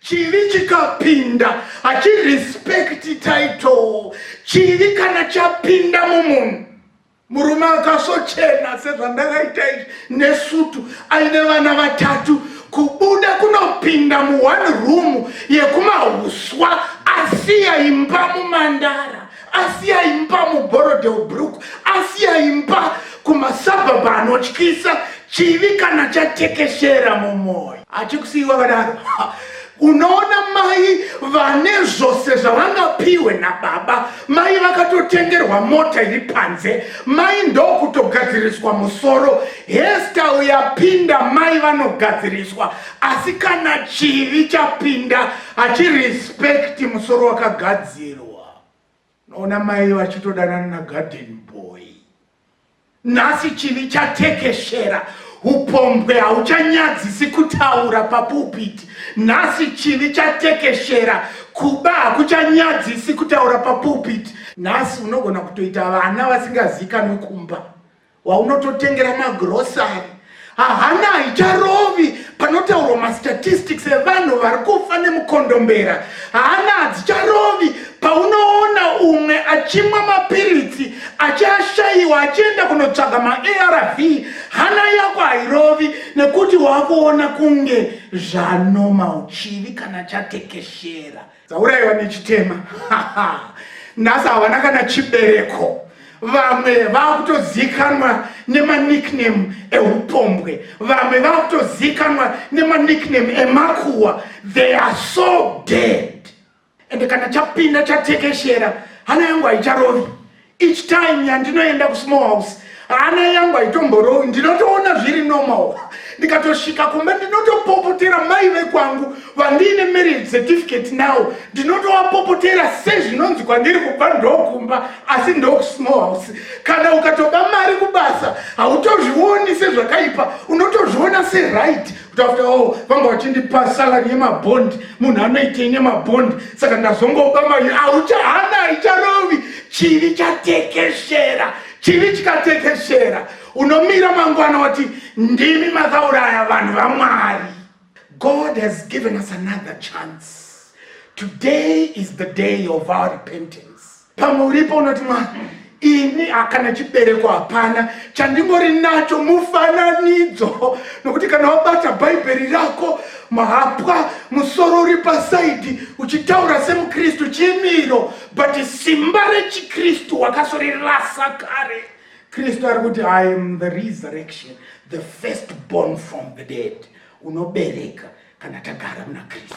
Chivi chikapinda hachirespecti title. Chivi kana chapinda mumunhu, murume akasochena sezvandakaita izvi nesutu aine vana vatatu, kubuda kunopinda mu one room yekumauswa asiya imba mumandara asi aimba muborodel brook asi aimba kumasabhabha anotyisa chivi kana chatekeshera mumwoyo achikusiiwa vadaro unoona mai vane zvose zvavangapiwe nababa mai vakatotengerwa mota iri panze mai ndokutogadziriswa musoro hestyle yapinda mai vanogadziriswa asi kana chivi chapinda hachirespekti musoro wakagadzirwa unoona mai vachitodanana nagarden boy nhasi chivi chatekeshera upombwe hauchanyadzisi kutaura papupiti nhasi chivi chatekeshera kuba hakuchanyadzisi kutaura papupiti nhasi unogona kutoita vana vasingazikanwi kumba waunototengera magrosari hahana haicharovi panotaurwa mastatistics evanhu vari kufa nemukondombera hahana hadzicharovi paunoona umwe achimwa mapiritsi achiashayiwa achienda kunotsvaga maarv hana yako hairovi nekuti wakuona kunge zvanomauchivi kana chatekeshera dzauraiwa nechitema nhasi havana kana chibereko vamwe vakutozikanwa nemanickname eupombwe vamwe vakutozikanwa nemanickname emakuwa they are so dead ende kana chapinda chatekeshera hana yangu haicharovi Each time yandinoenda kusmall house hana yangu haitomborowi ndinotoona zviri normal ndikatosvika kumba ndinotopopotera mai vekwangu vandiine marriage certificate now ndinotovapopotera sezvinonzi kwandiri kubva ndokumba asi ndokusmall house kana ukatoba mari kubasa hautozvioni sezvakaipa unotozviona seright but after all vanga vachindipa salary yemabond munhu anoitei nemabond saka ndazongoba mari auchahana haicharovi chivi chatekeshera chivi chikatekeshera unomira mangwana wati ndimi makauraya vanhu vamwari god has given us another chance today is the day of our repentance pamwe uripo unoti mwana ini hakana chibereko hapana chandingori nacho mufananidzo nokuti kana wabata bhaibheri rako mahapwa musoro uri pasaidhi uchitaura semukristu chimiro but simba rechikristu wakasorirasa kare kristu ari kuti i am the resurrection the first born from the dead unobereka kana tagara muna kristu